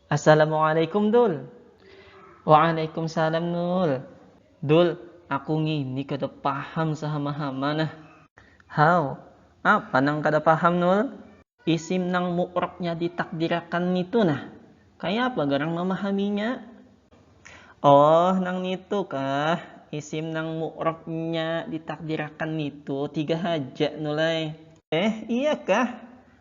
Assalamualaikum Dul. Waalaikumsalam Nul. Dul, aku ngini kada paham sahama-hama nah. Haw, apa nang kada paham Nul? Isim nang mu'rabnya ditakdirakan nitu nah, kaya apa garang mamahaminya? Oh, nang nitu kah, isim nang mu'rabnya ditakdirakan nitu tiga haja Nul ai. Eh, iya kah?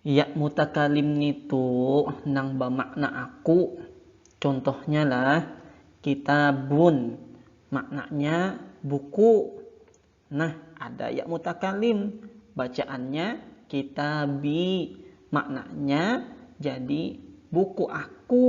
Yak mutakalim nitu nang bamakna aku. Contohnya lah, kitabun, maknanya buku. Nah, ada yak mutakalim, bacaannya kitabi, maknanya jadi buku aku.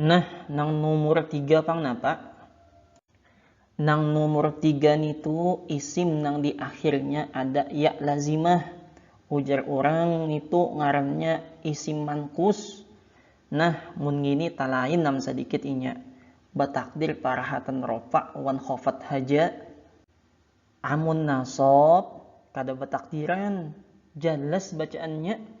Nah, nang numur tiga pang napa? Nang numur tiga nitu isim nang di akhirnya ada ya lazimah. Ujar urang nitu ngarannya isim mankus. Nah, mun ngini talain am sadikit inya. Batakdir parahatan rofa wan khofat haja. Amun nasab, kada batakdiran. Jalas bacaannya.